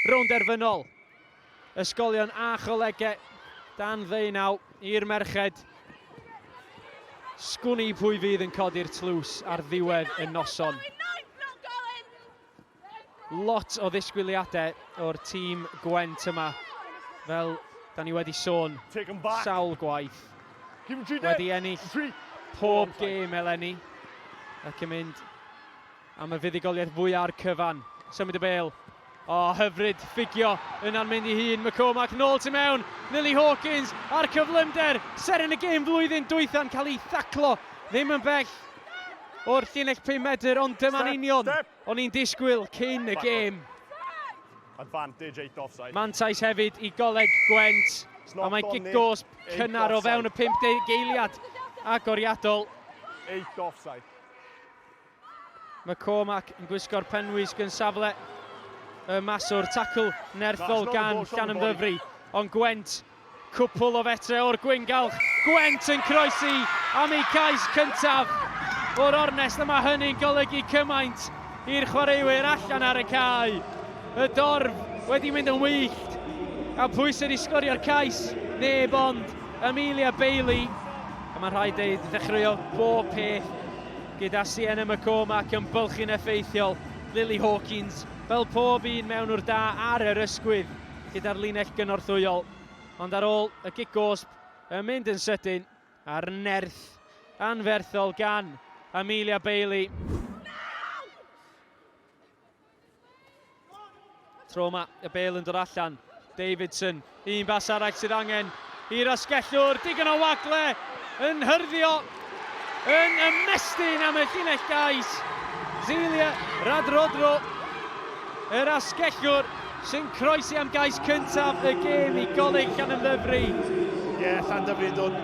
Rownd derfynol. Ysgolion a cholegau dan ddeunaw i'r merched. Sgwn i pwy fydd yn codi'r tlws ar ddiwedd y noson. Lot o ddisgwyliadau o'r tîm Gwent yma, fel da ni wedi sôn sawl gwaith. Wedi ennill pob gêm eleni ac yn mynd Am y fuddugoliaeth fwya ar cyfan. Symud y bel. O, oh, hyfryd, ffugio, yna'n mynd i hun, McCormack nôl tu mewn, Lily Hawkins a'r cyflymder, seren y gêm flwyddyn dwytha'n cael ei thaclo, ddim yn bell o'r llinell 5 medr, ond dyma'n union o'n i'n disgwyl cyn y gêm. Mantais hefyd i goleg Gwent, a mae gig gosb cynnar o fewn y 50 geiliad agoriadol. Eight offside. McCormack yn gwisgo'r penwisg yn safle y maswr, tacl nerthol gan Llanymddyfri, ond Gwent, cwpl o fetre o'r gwyngalch, Gwent yn croesi am eu cais cyntaf o'r ornest a mae hynny'n golygu cymaint i'r chwaraewyr allan ar y cae. Y dorf wedi mynd yn wyllt a pwy sydd wedi sgorio'r cais? Neb ond Amelia Bailey. A mae'n rhaid deud, ddechreuodd bob peth Gyda Sienna McCormack yn bylchu'n effeithiol, Lily Hawkins, fel pob un mewnwr da ar yr ysgwydd, gyda'r linell gynorthwyol. Ond ar ôl y gig gosb yn mynd yn sydyn a'r nerth anferthol gan Amelia Bailey, Tro yma, y bel yn dod allan. Davidson, un bas arall sydd angen i'r asgellwr, digon o wagle yn hyrddio, yn ymestyn am y llinell gais. Zelia Radrodro, yr asgellwr sy'n croesi am gais cyntaf y gêm i goleg Llanymddyfri. Ie, yeah, Llanymddyfri yn dod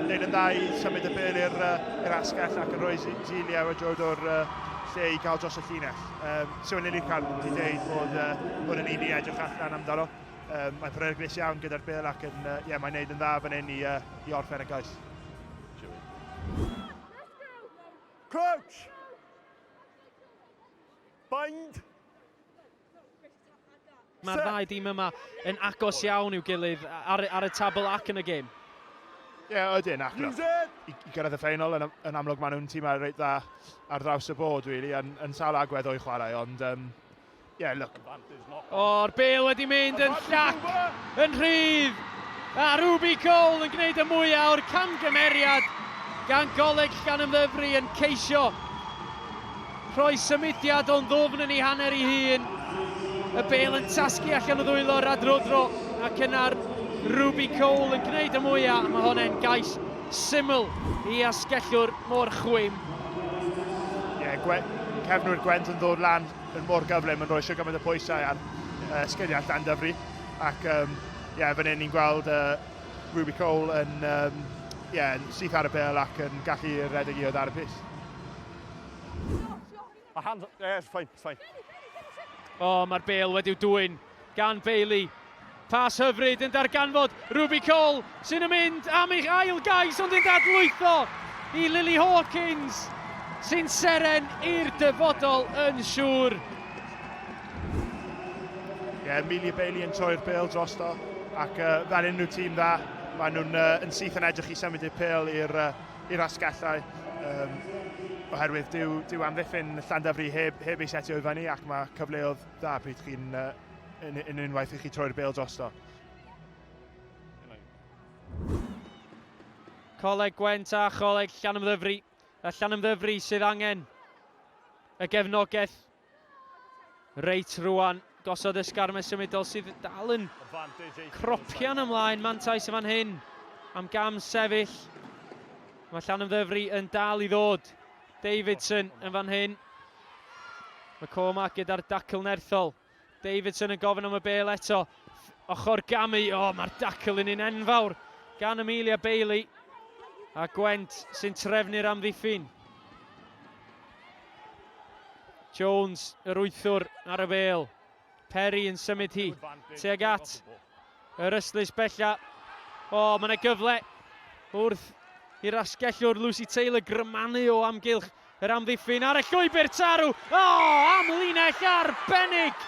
neud yn dda i symud y bel i'r uh, asgell ac yn rhoi Zelia Radrodro'r uh, lle i gael dros y llinell. Um, Siôn Lili Camp wedi dweud bod, uh, bod yn un i edrych allan amdano. Um, mae'n peryglus iawn gyda'r bil ac yn, uh, yeah, mae'n neud yn dda fan hyn i, uh, i orffen y gais. Crouch! Bind! Mae'r ddau dîm yma yn agos iawn i'w gilydd ar, ar y tabl ac yn y gêm. Ie, yeah, ydyn, ac i, i gyrraedd y ffeinol, yn, yn amlwg maen nhw'n tîm reit dda ar draws y bod, really, yn, yn sawl agwedd o'i chwarae, ond, um, yeah, look. O'r bel wedi mynd yn llac, yn rhydd, a Ruby Cole yn gwneud y mwyaf o'r camgymeriad gan goleg gan ymddyfru yn ceisio Rhoi symudiad o'n ddwfn yn ei hanner ei hun, y bêl yn tasgu allan o ddwylo Radrodro ac yna'r Ruby Cole yn gwneud y mwyaf a mae hon e'n gais syml i asgellwr mor chwim. Ie, gwe- cefnwyr Gwent yn ddod lan yn mor gyflym yn rhoi siwr gymaint o pwysau ar uh, sgiliau Llandyfri ac um, ie, fan hyn ni'n gweld uh, Ruby Cole yn um, ie, syth ar y bêl ac yn gallu redeg i oedd ar y pys. A hand, yeah, it's fine, it's fine. O, oh, mae'r bel wedi'w dwy'n gan Bailey. Pas hyfryd yn darganfod Ruby Cole sy'n yn mynd am eich ail gais ond yn dadlwytho i Lily Hawkins sy'n seren i'r dyfodol yn siŵr. Ie, yeah, Amelia Bailey yn troi'r bel drosto ac uh, fel unrhyw tîm dda, maen nhw'n uh, yn syth yn edrych i symud i'r pel i'r uh, i'r asgellau, um, oherwydd dyw, dyw amddiffyn Llandafri heb, heb ei setio i fyny ac mae cyfleodd dda pryd chi'n uh, yn, yn unwaith i chi troi'r bel drosto. Coleg Gwent a Choleg Llanymddyfri. A Llanymddyfri sydd angen y gefnogaeth Reit, rwan, gosod esgarmes symudol sydd dal yn cropian ymlaen. Mantais yn fan hyn am gam sefyll. Mae Llan Ymddyfri yn dal i ddod. Davidson yn fan hyn. Mae Cormac gyda'r dacl nerthol. Davidson yn gofyn am y bel eto. Ochr gamu, o oh, mae'r dacl yn un enfawr gan Amelia Bailey. A Gwent sy'n trefnu'r amddiffyn. Jones, yr wythwr ar y fel. Perry yn symud hi. Teg at yr ystlys bella. O, oh, mae'n gyfle wrth i'r asgellwr Lucy Taylor grymannu o amgylch Yr amddiffyn ar y llwybr tarw. O! Amlinell arbennig!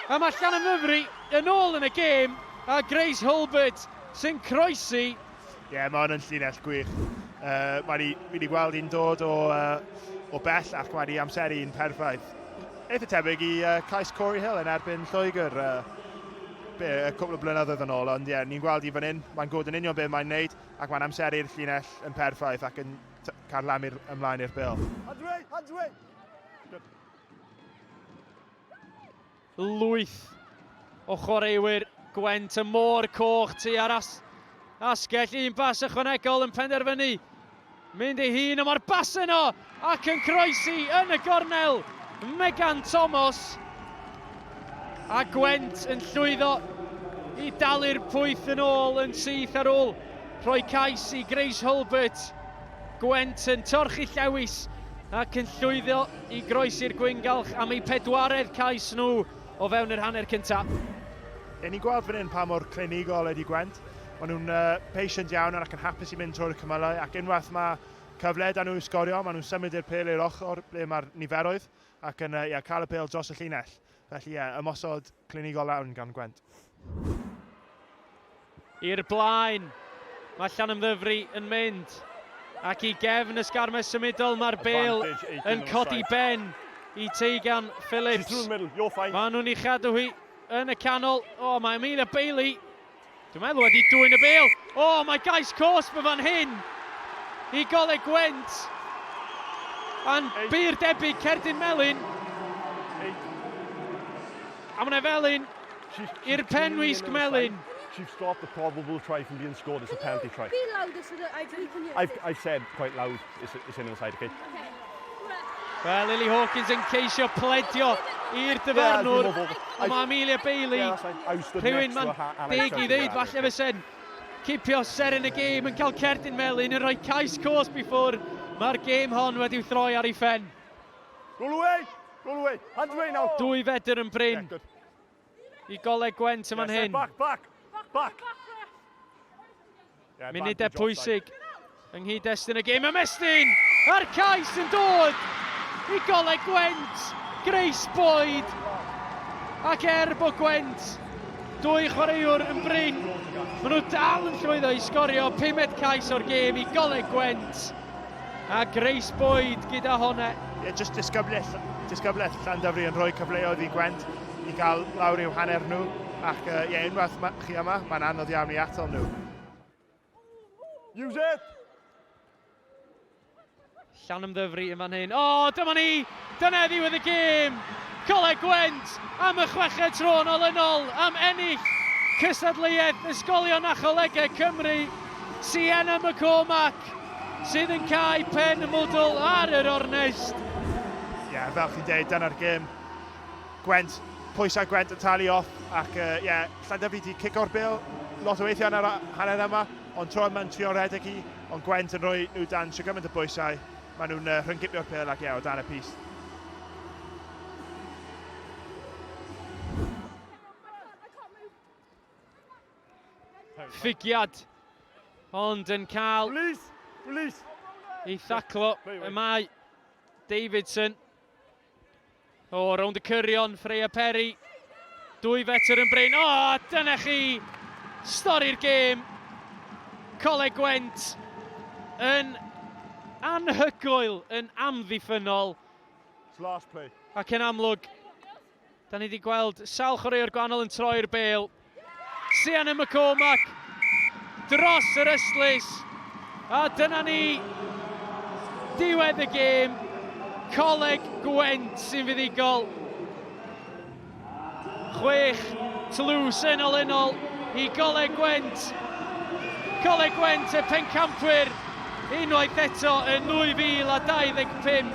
A mae Llanymddyfri yn ôl yn y gêm, a Grace Hulbert sy'n croesi. Ie, yeah, mae hwn yn llinell gwych. Uh, mae ni, fi wedi gweld hi'n dod o, uh, o bell ac mae ni amseru yn perffaith. Eitha tebyg i uh, cais Corey Hill yn erbyn Lloegr. Uh, be, y cwbl o blynyddoedd yn ôl, ond ie, yeah, ni'n gweld i fan hyn, mae'n gwybod yn union beth mae'n wneud, ac mae'n amseru'r llinell yn perffaith ac yn Cael lam i'r ymlaen i'r bel. Adwe, adwe! Lwyth o chwaraewyr Gwent y Môr Coch tu ar as, asgell un bas ychwanegol yn penderfynu mynd ei hun a mae'r bas yno ac yn croesi yn y gornel Megan Thomas A Gwent yn llwyddo i dalu'r pwyth yn ôl yn syth ar ôl rhoi cais i Grace Hulbert. Gwent yn torchi llewis ac yn llwyddo i groesi'r gwyngalch am eu pedwaredd cais nhw o fewn yr hanner cyntaf. Ry'n ni'n gweld fan hyn pa mor clinigol ydy Gwent. Maen nhw'n uh, patient iawn ac yn hapus i mynd trwy'r cymylau ac unwaith mae cyfle da nhw i sgorio, maen nhw'n symud i'r pel i'r ochr ble mae'r niferoedd ac yn ie, cael y pêl dros y llinell. Felly ie, ymosod clinigol lawn gan Gwent. I'r blaen, mae Llanymddyfri yn mynd. Ac i gefn y sgarmes symudol mae'r bêl yn codi ben i Tegan Phillips. Mae nhw'n ei chadw hi yn y canol. O, mae Amelia Bailey Dwi'n meddwl wedi dwyn y bel. O, oh, mae gais cos fy fan hyn i Goleg Gwent. A'n byr debyg Cerdyn Melin. A mae'n felin i'r penwisg melin. Chief stop the probable try from being scored. It's a penalty try. Be louder so that I, we can hear. I've, I've said quite loud. Eisiau nhw'n said, oce. Wel, Lily Hawkins yn ceisio pledio i'r dyfarnwr, ond mae Amelia Bailey, rhywun mae'n deg i ddeud, falle fe sen, cipio ser yn y gêm yn cael cerdyn melun, yn rhoi cais cwrs before. Mae'r gêm hon wedi'w throi ar ei phen. Roll away! Roll away! Hands away now! Dwy fedr yn brin. i goleg Gwent yn fan hyn. Back, back, back. Yeah, Munudau pwysig yng nghyd-destun y gêm. Ymestyn a'r cais yn dod i goleg Gwent. Grace Boyd. Ac er bod Gwent dwy chwaraewr yn brin, maen nhw dal yn llwyddo i sgorio pumed cais o'r gêm i goleg Gwent. A Grace Boyd gyda honna. Ie, jyst disgyblaeth, disgyblaeth Llandafri yn rhoi cyfleoedd i Gwent i gael lawr i'w hanner nhw. Ac uh, ie, unwaith ma, chi yma, mae'n anodd iawn i atal nhw. Use it! Llanymddyfri yn fan hyn. O, dyma ni! Dyna ddiwedd y gêm, Coleg Gwent am y chweched tro yn olynol am ennill cystadleuaeth Ysgolion a Cholegau Cymru, Sienna McCormack sydd yn cau pen mwdwl ar yr ornest. Ie, yeah, fel chi'n deud, dyna'r gêm. Gwent, pwysau Gwent yn talu off, ac ie, uh, yeah, Llandyfi di cico'r bil lot o weithiau yn yr hanner yma, ond tro yma'n trio redeg hi, ond Gwent yn rhoi nhw dan sio gymaint o bwysau. Maen nhw'n uh, rhyngipio'r pel ac ie, o dan y pys. Ffigiad, ond yn cael Please, please. ei thaclo y mae Davidson. O, rownd y cyrion, Freya Perry. Dwy fetr yn brin. O, dyna chi stori'r gêm. Coleg Gwent yn anhygoel, yn amddiffynol. Ac yn amlwg, Da ni wedi gweld sawl chwaraewr gwahanol yn troi'r bel. Sianne McCormack dros yr ystlys. A dyna ni diwedd y gêm. Coleg Gwent sy'n fuddigol. Chwech tlws yn ol yn ol i Goleg Gwent. Coleg Gwent y pencampwyr unwaith eto yn 2025.